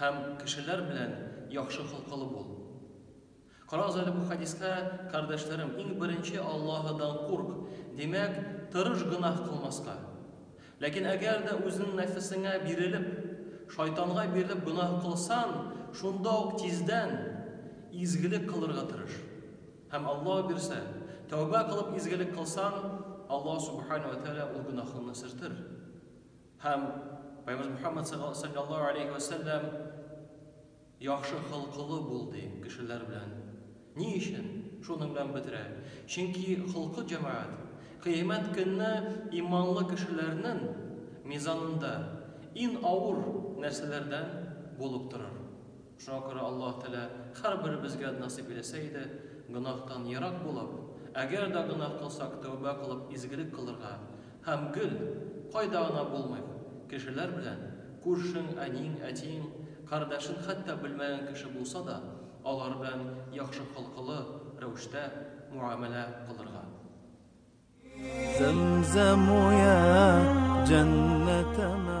Һәм кешеләр белән яхшы холкылы бул. Карагыз әле бу хәдискә, кардәшләрем, иң беренче Аллаһыдан курк, димәк, тырыш гөнаһ кылмаска. Ләкин әгәр дә үзенең нәфесеңә бирелеп, шайтанга бирелеп гөнаһ кылсан, шунда ук тиздән изгелек кылырга тырыш. Һәм Аллаһ бирсә, тәүбә кылып изгелек кылсан, Аллаһ Субхаһу вә Тәгалә ул гөнаһыңны сөртер. Һәм Пәйгамбәрбез Мөхәммәд салләллаһу галәйһи вә сәлләм яхшы холкылы бул ди кешеләр белән. Ни өчен? Шуның белән бетерә. Чөнки холкы җәмәгать Кыямәт көнне иманлы кешеләрнең мизанында ин авыр нәрсәләрдән булып торыр. Шуңа күрә Аллаһ Тәгалә һәрберебезгә насыйп иләсә иде, гөнаһтан ерак булып, әгәр дә гөнаһ кылсак, тәүбә кылып, изгелек кылырга һәм гел, кайда гына булмыйк, кешеләр белән, күршең, әниең, әтиең, кардәшең хәтта белмәгән кеше булса да, алар белән яхшы холкылы рәвештә муамәлә кылырга. Зәмзәм уе, җәннәтемә.